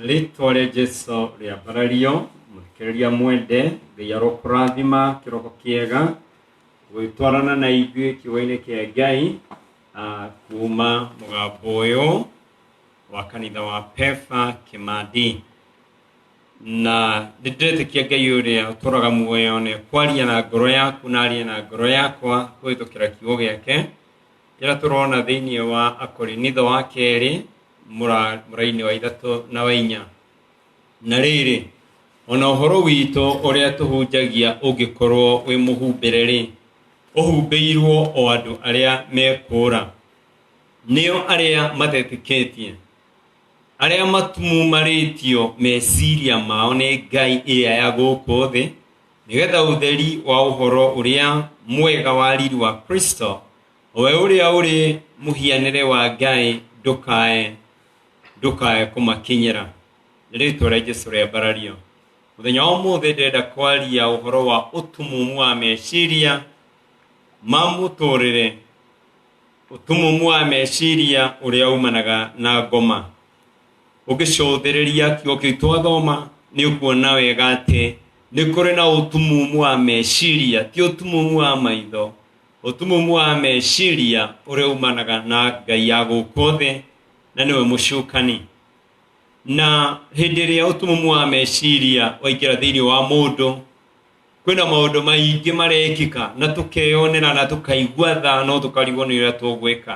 rĩtwa rĩa jesu rĩambarario mũthikĩrĩria mwende ngai arokũrathima kĩroko kĩega gwĩtwarana na ithuĩ kiugo-inĩ kĩa ngai ah, kuuma mũgambo ũyũ wa kanitha wa pefa kĩmandi na nĩ ndĩretĩkia ngai ũrĩa ũtũraga muoyo nĩ kwaria na ngoro yaku na arie na ngoro yakwa kũhĩtũkĩra kiugo gĩake Rĩrĩa tũrona thĩinĩ wa Akorinitho wa kerĩ mũrainĩ wa ithatũ na wa inya. Na rĩrĩ, ona ũhoro witũ ũrĩa tũhunjagia ũngĩkorwo wĩ mũhumbĩre-rĩ, ũhumbĩirwo o andũ arĩa mekũũra, nĩo arĩa matetĩkĩtie, arĩa matumumarĩtio meciria mao nĩ ngai ĩrĩa ya gũkũ thĩ, nĩgetha ũtheri wa ũhoro ũrĩa mwega wa riri wa Kristo, we ũrĩa ũrĩ mũhianĩre wa Ngai ndũkae ndũkae kũmakinyĩra. Nĩ rĩtwa rĩa Jesu rĩa mbarario. Mũthenya wa ũmũthĩ ndĩrenda kwaria ũhoro wa ũtumumu wa meciria ma mũtũrĩre, ũtumumu wa meciria ũrĩa umanaga na ngoma. ũngĩcũthĩrĩria kiugo kĩu twathoma nĩ ũkuona wega atĩ nĩ kũrĩ na ũtumumu wa meciria ti ũtumumu wa maitho ũtumumu wa meciria ũrĩa umanaga na ngai ya gũkũ thĩ na nĩwe mũcukani na hĩndĩ ĩrĩa ũtumumu wa meciria waingĩra thĩinĩ wa mũndũ kwĩna maũndũ maingĩ marekĩka na tũkeyonera na tũkaigua tha no tũkarigwo nĩ ũrĩa tũgwĩka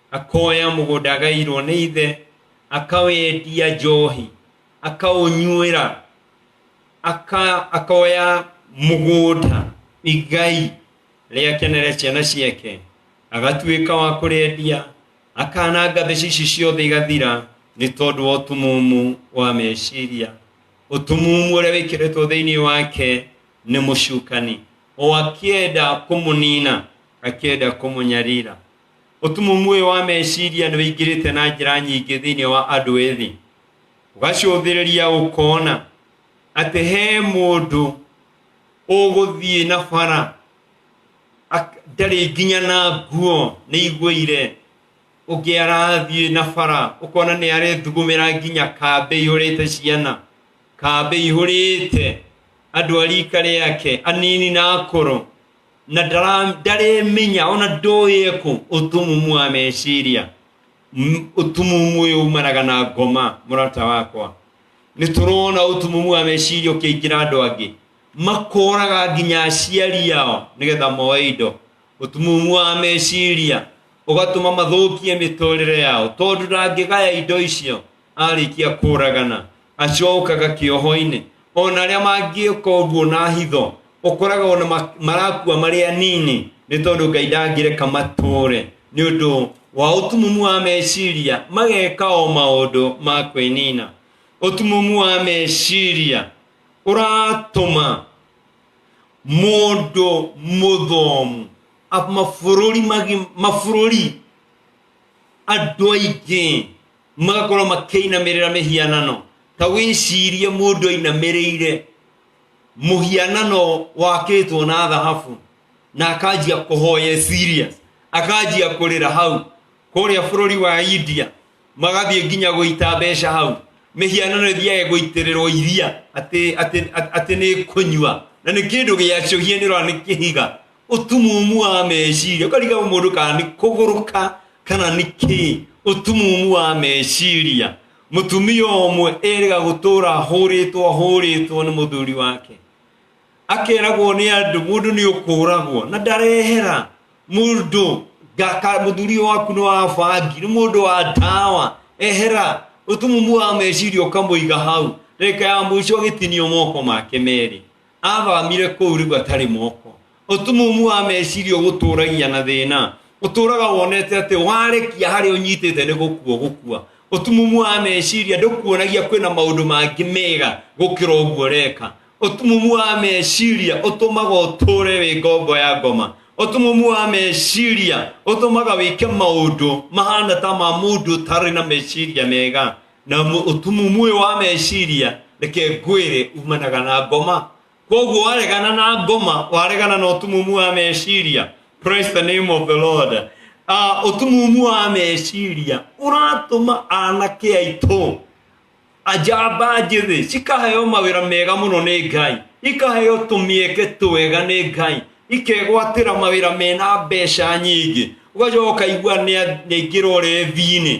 akoya mũgũnda agairwo nĩ ithe akawendia njohi akaũnyuĩra aka, akoya mũgũnda igai rĩakenere ciana ciake agatuĩka wa kũrĩendia akananga mbeca ici ciothe igathira nĩ tondũ wa ũtumumu wa meciria ũtumumu ũrĩa wĩkĩrĩtwo thĩinĩ wake nĩ mũcukani o akĩenda kũmũnina akĩenda kũmũnyarira ũtumumu ũyũ wa meciria nĩ wĩingĩrĩte na njĩra nyingĩ thĩinĩ wa andũ ethĩ ũgacũthĩrĩria ũkona atĩ he mũndũ ũgũthiĩ na bara ak- ndarĩ nginya na nguo nĩ igũire ũngĩ arathiĩ na bara ũkona nĩ arethugumĩra nginya kambĩ ihũrĩte ciana kambĩ ihũrĩte andũ a rika rĩake anini na akũrũ na ndara- ndaremenya ona ndoĩ ekũ ũtumumu wa meciria M- ũtumumu ũyũ umanaga na ngoma mũrata wakwa nĩ tũrona ũtumumu wa meciria ũkĩingĩra andũ angĩ makoraga nginya aciari ao nĩgetha moe indo ũtumumu wa meciria ũgatũma mathũkie mĩtũrĩre yao tondũ ndangĩgaya indo icio arĩkia kũragana acokaga kĩoho-inĩ ona arĩa mangĩka ũguo na hitho ũkoraga ona ma- marakua marĩ anini nĩ tondũ ngai ndangĩreka matũre nĩ ũndũ wa ũtumumu wa meciria mageka o maũndũ ma kwĩnina ũtumumu wa meciria ũratũma mũndũ mũthomu a- mabũrũri magi- mabũrũri andũ aingĩ magakorwo makĩinamĩrĩra mĩhianano ta wĩcirie mũndũ ainamĩrĩire mũhianano wakĩtwo na thahabu na akanjia kũhoya serious akanjia kũrĩra hau kũrĩa bũrũri wa india magathiĩ nginya gũita mbeca hau mĩhianano ĩthiae gũitĩrĩrwo iria atĩ nĩ kũnyua na nĩ kĩndũ gĩacũhie nĩ ũrona nĩ kĩhiga ũtumumu wa meciria ũkariga mũndũ kana nĩ kũgũrũka kana nĩ kĩ ũtumumu wa meciria mũtumia ũmwe erĩga gũtũra hũrĩtwo hũrĩtwo nĩ mũthuri wake akeragwo nĩ andũ mũndũ nĩ ũkũragwo na ndarehera mũndũ ngaka mũthuri ũyũ waku nĩ wa bangi nĩ mũndũ wa ndawa ehera ũtumumu wa meciria ũkamũiga hau reka ya mũico agĩtinio moko make merĩ athamire kũu rĩu atarĩ moko ũtumumu wa meciria ũgũtũragia na thĩna ũtũraga wonete atĩ warekia harĩa ũnyitĩte nĩ gũkua gũkua ũtumumu wa meciria ndũkuonagia kwĩna maũndũ mangĩ mega gũkĩra ũguo reka ũtumumu wa meciria ũtũmaga ũtũre wĩ ngombo ya ngoma ũtumumu wa meciria ũtũmaga wĩke maũndũ mahana ta ma mũndũ ũtarĩ na meciria mega na mu- ũtumumu ũyũ wa meciria reke ngwĩre umanaga na ngoma kwoguo waregana na ngoma waregana na ũtumumu wa meciria praise the name of the lord Ah, ũtumumu wa meciria ũratũma anake aitũ ajamba njĩthĩ cikaheo mawĩra mega mũno nĩ ngai ikaheo tũmĩeke twega nĩ ngai ikegwatĩra mawĩra mena mbeca nyingĩ ũgacoka ũkaigua nĩ- nĩaingĩra ũrevi-inĩ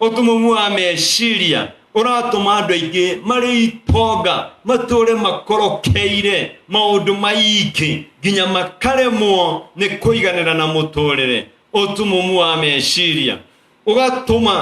ũtumumu wa meciria ũratũma andũ aingĩ marĩ itonga matũũre makorokeire maũndũ maingĩ nginya makaremwo nĩ kũiganĩra na mũtũũrĩre ũtumumu wa meciria ũgatũma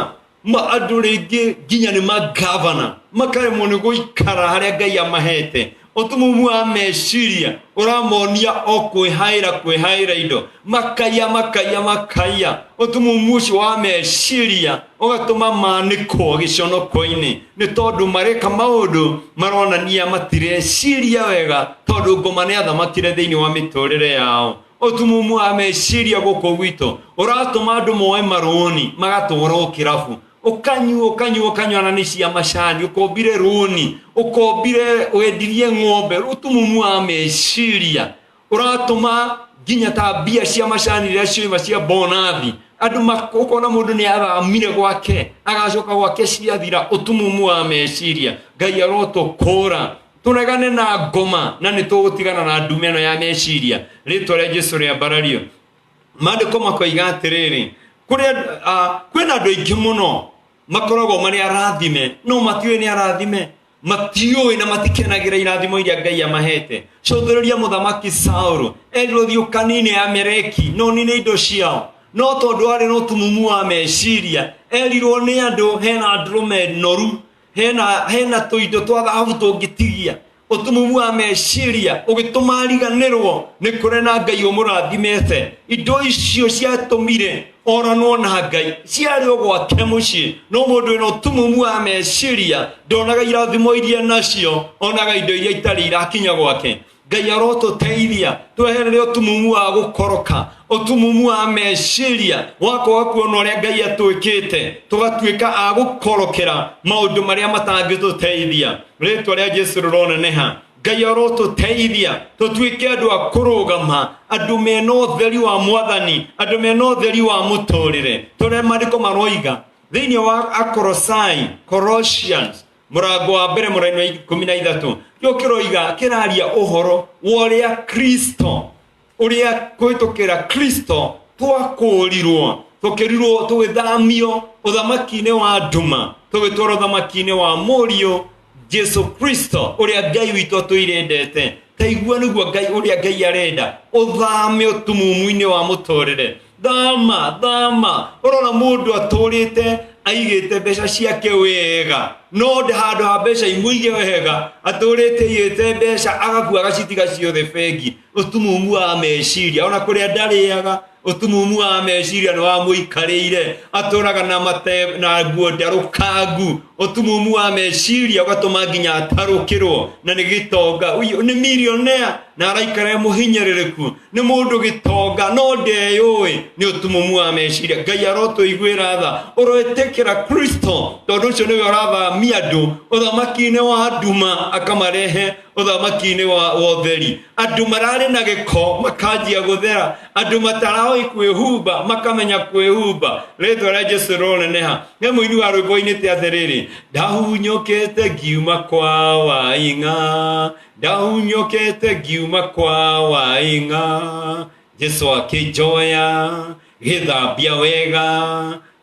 ma andũ rĩngĩ nginya nĩ magavana makaremwo nĩ gũikara harĩa ngai amahete ũtumumu wa meciria ũramonia o kwĩhaĩra kwĩhaĩra indo makaiya makaiya makaiya ũtumumu ũcio wa meciria ũgatũma manĩkwo gĩconoko-inĩ nĩ tondũ mareka maũndũ maronania matireciria wega tondũ ngoma nĩ athamakire thĩinĩ wa mĩtũrĩre yao ũtumumu wa meciria gũkũ gwitũ ũratũma andũ moe marũni magatwarwo kĩrabu ukanyua ukanyua ukanyua na nĩ cia macani ukombire rũni ukombire wendirie ng'ombe utumumu wa meciria uratuma nginya ta mbia cia macani rĩrĩa cioima cia bonathi andũ mak- ũkona mũndũ nĩ athamire gwake agacoka gwake ciathira utumumu wa meciria ngai arotũkũra tũregane na ngoma na nĩ tũgũtigana na ndume ĩno ya meciria rĩtwa rĩa jesu rĩa mbarario maandĩko makoiga atĩrĩrĩ kũrĩ andũ- ah, kwĩna andũ aingĩ mũno makoragwo marĩ arathime no matiũĩ nĩ arathime matiũĩ na matikenagĩra irathimo iria ngai amahete cũthĩrĩria mũthamaki saũlũ erirwo thiĩ ũkanine amereki no nine indo ciao no tondũ arĩ na ũtumumu wa meciria erirwo nĩ andũ hena ndũrũme noru hena hena tũindo twa thahabu tũngĩtigia ũtumumu wa meciria ũgĩtũma riganĩrwo nĩ kũrĩ na ngai ũmũrathimĩte indo icio ciatũmire oranwo na ngai ciarĩ o gwake mũciĩ no mũndũ wĩna ũtumumu wa meciria ndonaga irathimo iria nacio onaga indo iria itarĩ irakinya gwake ngai arotũteithia tweherere ũtumumu wa gũkoroka ũtumumu wa meciria wakoa kuona ũrĩa ngai atwĩkĩte tũgatuĩka a gũkorokera maũndũ marĩa matangĩtũteithia rĩtwa rĩa jesu rĩroneneha ngai arotũteithia tũtuĩke andũ a kũrũgama andũ mena ũtheri wa mwathani andũ mena ũtheri wa mũtũrĩre tũrĩa marĩko maroiga thĩinĩ wa akorosai colossians mũrango wa mbere mũraini wa ikũmi na ithatũ kĩo kĩroiga kĩraria ũhoro wa ũrĩa kristo ũrĩa kũhĩtũkĩra kristo twakũũrirwo tũkĩrirwo tũgĩthamio ũthamaki-inĩ wa nduma tũgĩtwarwo ũthamaki-inĩ wa mũriũ jesu kristo ũrĩa ngai witũ atũirendete taigua nĩguo ngai ũrĩa ngai arenda ũthame ũtumumu-inĩ wa mũtũrĩre thama thama ũrona mũndũ atũrĩte aigĩte mbeca ciake wega no nda handå ha mbeca imũige wega atå rä te igä te mbeca agakua agacitiga ciothe bengi ũtumumu wa meciria ona kũrĩa ndarĩaga ũtumumu wa meciria nĩ wamũikarĩire atũraga na mate na nguo ndarũkangu ũtumumu wa meciria ũgatũma nginya atarũkĩrwo na nĩ gĩtonga Ũyũ nĩ milionea na araikara e mũhinyĩrĩrĩku nĩ mũndũ gĩtonga no ndeyũĩ nĩ ũtumumu wa meciria ngai arotũiguĩra tha ũroĩtĩkĩra kristo tondũ ũcio nĩwe ũrathamia andũ ũthamaki-inĩ wa nduma akamarehe ũthamaki-inĩ wa wa ũtheri andũ mararĩ na gĩko makanjia gũthera andũ mataraoi kwĩhumba makamenya kwĩhumba rĩtwa rĩa jesu rĩroneneha nĩ mũini wa rwĩmbo ainĩte atĩrĩrĩ ndahunyũkĩte ngiuma kwa waing'a ndahunyũkĩte ngiuma kwa waing'a jesu akĩnjoya gĩthambia wega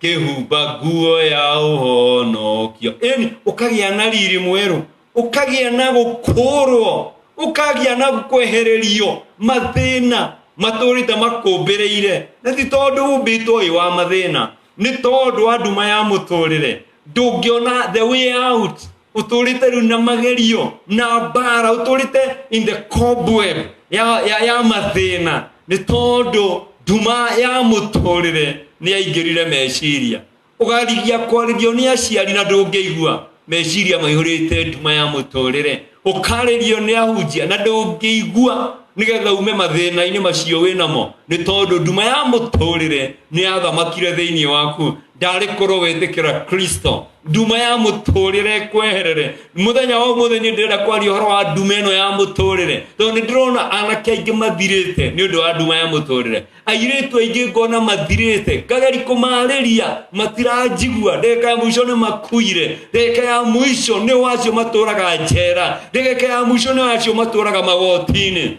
kĩhumba nguo ya ũhonokio ĩni ũkagĩa na riri mwerũ ũkagĩa na gũkũũrwo ũkagĩa na kwehererio mathĩna matũrĩte makũmbĩrĩire na ti tondũ umbĩtwo ũyũ wa mathĩna nĩ tondũ wa nduma ya mũtũrĩre ndũngĩona the way out ũtũrĩte rĩu na magerio na mbara ũtũrĩte in the cobweb ya, ya, ya mathĩna nĩ tondũ nduma ya mũtũrĩre nĩ yaingĩrire meciria ũgarigia kwarĩrio nĩ aciari na ndũngĩigua meciria maihũrĩte nduma ya mũtũrĩre ũkarĩrio nĩ ahunjia na ndũngĩigua nĩgetha ume mathĩna-inĩ macio wĩ namo nĩ tondũ nduma ya mũtũrĩre nĩ yathamakire thĩinĩ waku ndarĩ korwo wĩtĩkĩra kristo nduma ya mũtũrĩre kweherere mũthenya wa ũmũthĩ nĩ ndĩrenda kwaria ũhoro wa nduma ĩno ya mũtũrĩre tondũ nĩ ndĩrona anake aingĩ mathirĩte nĩ ũndũ wa nduma ya mũtũrĩre airĩtu aingĩ ngona mathirĩte ngageri kũmarĩria matiranjigua ndagĩka ya mũico nĩ makuire ndagĩka ya mũico nĩ wacio matũraga njera ndagĩka ya mũico nĩ wacio matũraga magotinĩ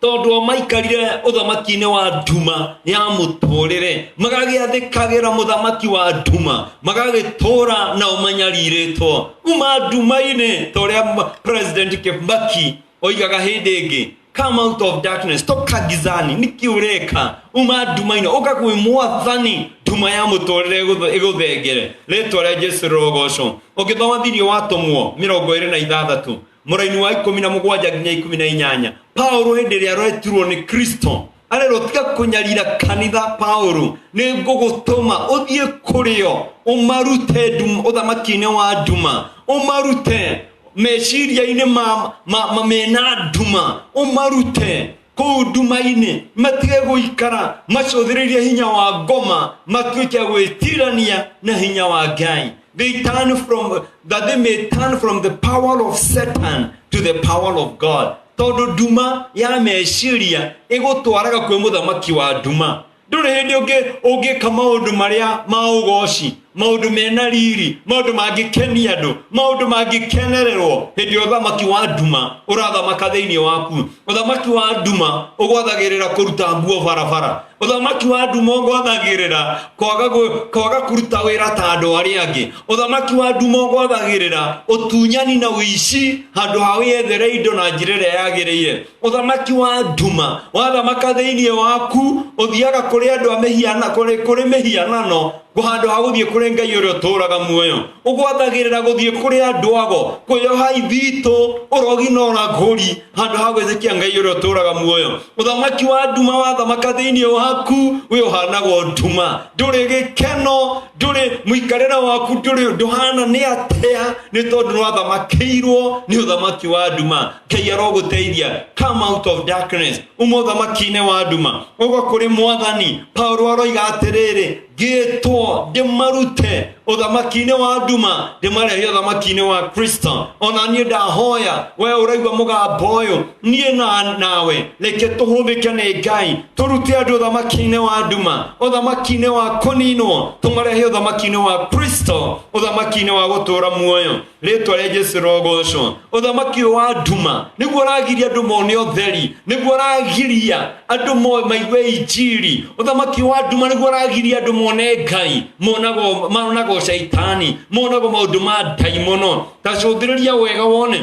tondũ o maikarire ũthamaki-inĩ wa nduma ya mũtũrĩre magagĩathĩkagĩra mũthamaki wa nduma magagĩtũra nao manyarirĩtwo kuma nduma-inĩ ta ũrĩa president kĩmaki oigaga hĩndĩ ĩngĩ come out of darkness toka gizani niki ureka uma ndumaino uka kwi mwathani nduma ya mutorire iguthengere ritwa ria jesu rogoco ungithoma thiini wa tumwo mirongo iri na ithathatu muraini wa ikumi na mugwanja nginya ikumi na inyanya paulo hindi ria aretirwo ni kristo arerwo tiga kunyarira kanitha paulo ni ngugutuma uthie kurio umarute nduma- uthamaki-ini wa nduma umarute meciria-inĩ ma, ma, ma mena nduma ũmarute kũu nduma-inĩ matige gũikara macũthĩrĩrie hinya wa ngoma matuĩke gwĩtirania na hinya wa ngai they turn from that they may turn from the power of satan to the power of god tondũ nduma ya meciria ĩgũtwaraga kwĩ mũthamaki wa nduma ndũrĩ hĩndĩ ũngĩ- ũngĩka maũndũ marĩa ma ũgoci maũndũ mena riri maũndũ mangĩkenia andũ maũndũ mangĩkenererwo hĩndĩ ya ũthamaki wa nduma ũrathamaka thĩinĩ waku ũthamaki wa nduma ũgwathagĩrĩra kũruta nguo barabara ũthamaki wa nduma ũgwathagĩrĩra kwaga gũ- kwaga kũruta wĩra ta andũ arĩa angĩ ũthamaki wa nduma ũgwathagĩrĩra ũtunyani na ũici handũ ha wĩyethere indo na njĩra ĩrĩa yagĩrĩire ũthamaki wa nduma wathamaka thĩinĩ waku ũthiaga kũrĩ andũ a mĩhiana kũrĩ kũrĩ mĩhianano handũ ha gũthiĩ kũrĩ ngai ũrĩa ũtũũraga muoyo ũgwathagĩrĩra gũthiĩ kũrĩ andũ ago kwĩyoha ithitũ ũrogi na ũragũri handũ ha gwĩtĩkia ngai ũrĩa ũtũũraga muoyo ũthamaki wa nduma wathamaka thĩinĩ waku wĩ ũhanagwo nduma ndũrĩ gĩkeno ndũrĩ mũikarĩre waku ndũrĩ ndũhana nĩ atĩa nĩ tondũ nĩwathamakĩirwo nĩ ũthamaki wa nduma ngai arogũteithia come out of darkness uma ũthamaki-inĩ wa nduma ũgo kũrĩ mwathani paulo aroiga atĩrĩrĩ ngĩtwo ndĩmarute ũthamaki-inĩ wa nduma ndĩmarehe ũthamaki-inĩ wa kristo ona niĩ ndahoya we ũraigua mũgambo ũyũ niĩ na nawe reke tũhũthĩke nĩ ngai tũrute andũ ũthamaki-inĩ wa nduma ũthamaki-inĩ wa kũninwo tũmarehe ũthamaki-inĩ wa kristo ũthamaki-inĩ wa gũtũra muoyo rĩtwa rĩa jesu rogocwo ũthamaki ũyũ wa nduma nĩguo ũragiria andũ mone ũtheri nĩguo ũragiria andũ mo- maigue injiri ũthamaki wa nduma nĩguo ũragiria andũ mone ngai monago monago caitani monago maũndũ ma ndaimono ta cũngĩrĩria wega wone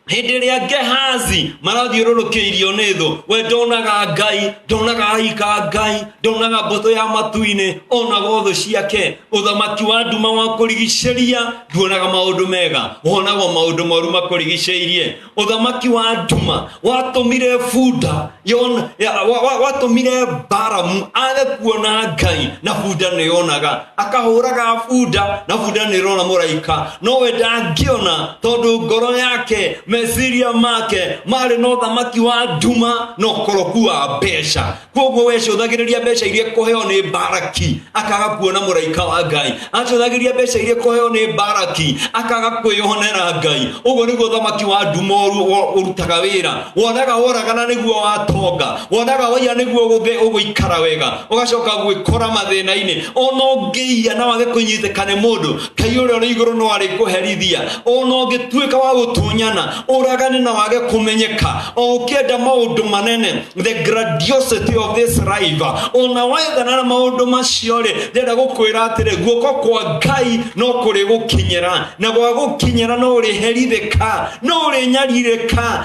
hĩndĩ ĩrĩa ngehazi marathiũrũrũkĩirio nĩ thũ we ndonaga ngai ndonaga aika ngai ndonaga mbũtũ ya matu-inĩ onaga thũ ciake ũthamaki wa nduma wa kũrigicĩria nduonaga maũndũ mega wonaga maũndũ moru makũrigicĩirie ũthamaki wa nduma watũmire bunda yona- ya- wa- wa- watũmire baramu age kuona ngai na bunda nĩyonaga akahũraga bunda na bunda nä rona må raika nowe ndangĩona tondå ngoro yake meciria make marä na ũthamaki wa nduma na ũkoroku wa mbeca kwoguo we cåthagä rä ria mbeca iria kåheo nä baraki akaga kuona må raika wa ngai acåthagä ria mbeca iria kåheo nä baraki akaga kwä honera ngai å guo nä guo ũthamaki wa nduma å rutaga wä ra wonaga woragana nä guo watonga wonaga waiya nĩguo gũthĩ ũgũikara wega ũgacoka gwĩkora mathĩna-inĩ ona ũngĩiya na wage kũnyitĩka nĩ mũndũ kai ũrĩa ũrĩ igũrũ no arĩkũherithia ona ũngĩtuĩka wa gũtunyana ũragane na wage kũmenyeka o ũkĩenda maũndũ manene the grandiosity of this life ona wethana na maũndũ macio rĩ ndĩrenda gũkwĩra atĩrĩ guoko kwa ngai no kũrĩ gũkinyĩra na gwa gũkinyĩra no ũrĩherithĩka no ũrĩnyarirĩka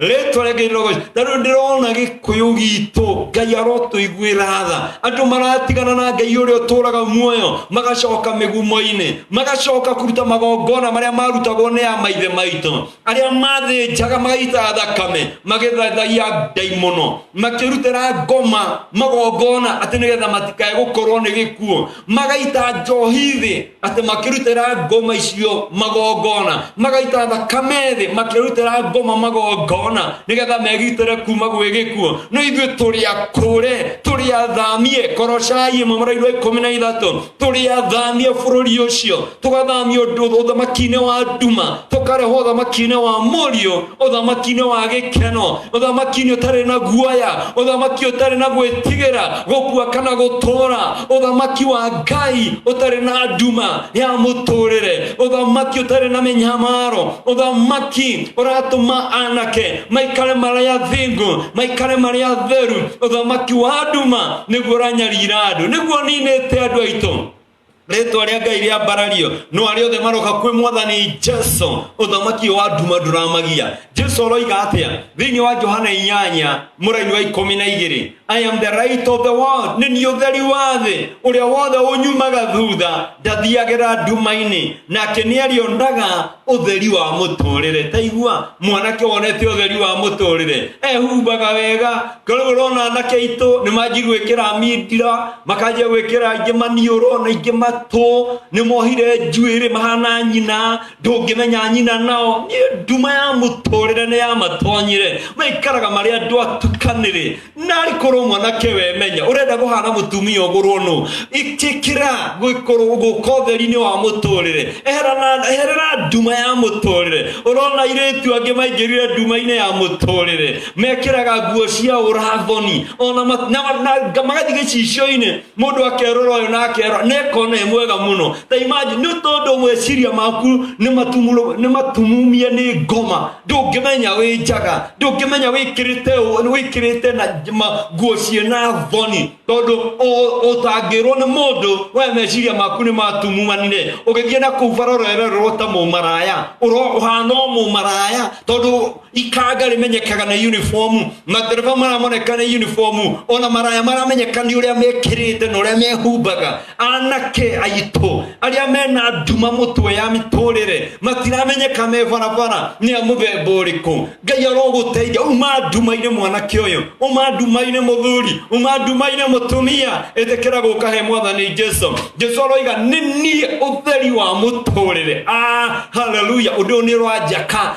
rĩtwa rĩngĩ irogoci na rĩu ndĩrona gĩkũyũ gitũ ngai arotũiguĩra tha andũ maratigana na ngai ũrĩa ũtũraga muoyo magacoka mĩgumo-inĩ magacoka kũruta magongona marĩa marutagwo nĩ ya maithe maitũ arĩa mathĩnjaga magaita thakame magĩthathaia ngai mũno makĩrutĩra ngoma magongona atĩ nĩgetha matikae gũkorwo nĩ gĩkuũ magaita njohi thĩ atĩ makĩrutĩra ngoma icio magongona magaita thakame thĩ makĩrutĩra ngoma magongona nĩgetha megitĩre kuma gwĩ gĩkuo no ithuĩ tũrĩ akũre tũrĩ athamie korocai ĩmwe mũraini wa ikũmi na ithatũ tũrĩ athamie bũrũri ũcio tũgathamio ũthamaki-inĩ wa nduma tũkarehwo ũthamaki-inĩ wa mũriũ Othamaki nĩ wa gĩkeno, othamaki nĩ ũtarĩ na guoya, othamaki ũtarĩ na gwĩtigĩra gũkua kana gũtũũra, othamaki wa Ngai ũtarĩ na nduma ya mũtũũrĩre, othamaki ũtarĩ na mĩnyamaro, othamaki ũratũma anake maikare marĩ athingu, maikare marĩ atheru, othamaki wa nduma nĩguo ũranyarira andũ, nĩguo ninĩte andũ aitũ rĩtwa rĩa ngai rĩa mbarario no arĩa othe maroka kwĩ mwathani jesu ũthamaki ũyũ wa nduma ndũramagia jesu aroiga atĩa thĩinĩ wa johana inyanya mũraini wa ikũmi na igĩrĩ i am the right of the world nĩ niĩ ũtheri wa thĩ ũrĩa wothe ũnyumaga thutha ndathiagĩra nduma-inĩ nake nĩ arĩonaga ũtheri wa mũtũrĩre taigua mwanake wonete ũtheri wa mũtũrĩre ehumbaga wega korwo ũrona anake aitũ nĩ manjiguĩkĩra mindira makanjia gwĩkĩra aingĩ maniũrũ na aingĩ matũ nĩ mohire njuĩrĩ mahana nyina ndũngĩmenya nyina nao Niĩ nduma ya mũtũrĩre nĩ ya matonyire maikaraga marĩ andũ atukanĩrĩ narĩ korwo mwanake wemenya ũrenda kũhana mũtumia ũgũrwo nũ ĩtĩkĩra gũkorwo gũka ũtheri-inĩ wa mũtũrĩre Eherana- eherera nduma ya mũtũrĩre ũrona irĩtu angĩ maingĩrire nduma-inĩ ya mũtũrĩre mekĩraga nguo cia ũrathoni ona ma- na- na- na- magathiĩ gĩcicio-inĩ mũndũ akerora ũyũ na akerora na ekona e mwega mũno ta imagine nĩ tondũ meciria maku nĩ matumũrũ- nĩ matumumie nĩ ngoma ndũngĩmenya wĩ njaga ndũngĩmenya wĩkĩrĩte ũ- wĩkĩrĩte na j- ma- nguo ciĩ na thoni tondũ ũ- ũtangĩrwo nĩ mũndũ we meciria maku nĩ matumumanire ũgĩthiĩ na kũu bara ũrererwo ta mũmaraya Ũro- ũhana o mũmaraya tondũ ikaga rimenyekaga na uniform madereva maramoneka na uniform ona maraya maramenyeka nĩ ũrĩa mekĩrĩte na ũrĩa mehumbaga anake aitũ arĩa mena nduma mũtwe ya mĩtũrĩre matiramenyeka me barabara nĩ a mũthemba ũrĩkũ ngai arogũteithia uma nduma-inĩ mwanake ũyũ uma nduma-inĩ mũthuri uma nduma-inĩ mũtumia ĩtĩkĩra gũka he mwathani jesu jesu aroiga nĩ niĩ ũtheri wa mũtũrĩre ah, haleluya ũndũ ũyũ nĩ ũranjaka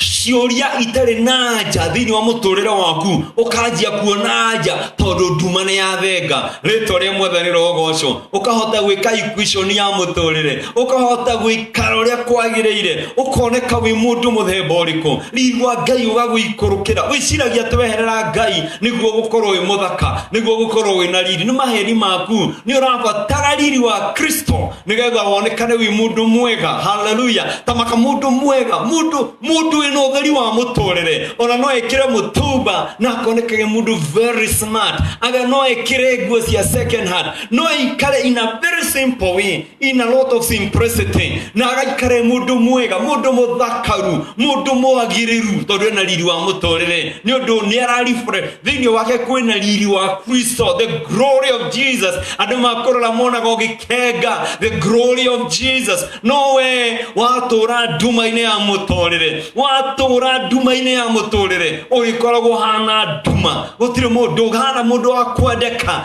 ciũria itarĩ na nja thĩinĩ wa mũtũrĩre waku ũkanjia kuona nja tondũ nduma nĩ yathenga rĩtwa rĩa mwathani rogocwo ũkahota gwĩka equation ya mũtũrĩre ũkahota gwĩkara ũrĩa kwagĩrĩire ũkoneka wĩ mũndũ mũthemba ũrĩkũ rigwa ngai ũgagũikũrũkĩra wĩciragia atĩ weherera ngai nĩguo gũkorwo wĩ mũthaka nĩguo gũkorwo wĩ na riri nĩ maheni maku nĩ ũrabatara riri wa kristo nigetha wonekane wi mundu mwega haleluya tamaka mundu mwega mundu mundu wina utheri wa muturire ona no ekire mutumba na akonekage mundu very smart aga no ekire nguo cia second hand no aikare in a very simple way in a lot of simplicity na agaikare mundu mwega mundu muthakaru mundu mwagiriru tondu ena riri wa muturire ni undu ni ararifre thĩinĩ wake kwĩna riri wa kristo the glory of jesus andũ makũrora monaga ũgĩkenga the glory of jesus no we watũũra nduma-inĩ ya mũtũrĩre watũũra nduma-inĩ ya mũtũrĩre ũrĩkoragwo hana nduma gũtirĩ mũndũ ũhana mũndũ wa kwendeka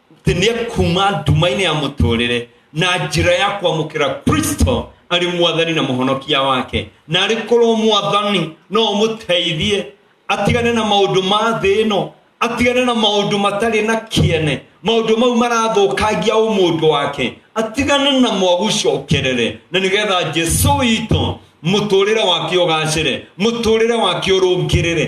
atĩ nĩ ekuma nduma-inĩ ya mũtũrĩre na njĩra ya kwamũkĩra kristo arĩ mwathani na mũhonokia wake na arĩ korwo mwathani no ũmũteithie atigane na maũndũ ma thĩ ĩno atigane na maũndũ matarĩ na kĩene maũndũ mau marathũkangia ũmũndũ wake atigane na mwagucokerere na nĩgetha jesu witũ mũtũrĩre wake ũgacĩre mũtũrĩre wake ũrũngĩrĩre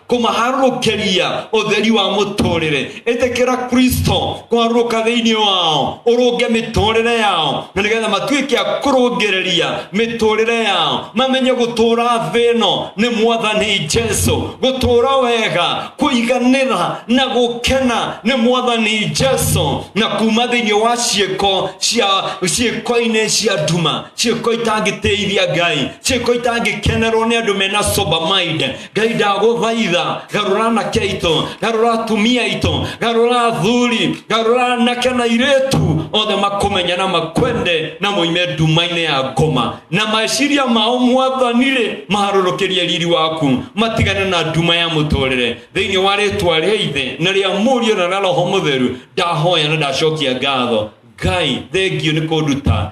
kũmaharũrũkĩria ũtheri wa mũtũrĩre ĩtĩkĩra kristo kwarũka thĩinĩ wao ũrũnge mĩtũrĩre yao na nĩgetha matuĩke a kũrũngĩrĩria mĩtũrĩre yao mamenye gũtũra thĩ ĩno nĩ mwathani jesu gũtũra wega kũiganĩra na gũkena nĩ mwathani jesu na kuma thĩinĩ wa ciĩko cia ciĩko-inĩ cia nduma ciĩko itangĩtĩithia ngai ciĩko itangĩkenerwo nĩ andũ mena sober mind ngai ndagũthaitha garũra anake aitũ garũra atumia aitũ garũra athuri garũra anake na irĩtu othe makũmenya na makwende na moime nduma-inĩ ya ngoma na meciria mao mwathani-rĩ maharũrũkĩrie riri waku matigane na nduma ya mũtũrĩre thĩinĩ wa rĩtwa rĩa ithe na rĩa mũriũ na rĩa roho mũtheru ndahoya na ndacokia ngatho ngai thengio nĩ kũnduta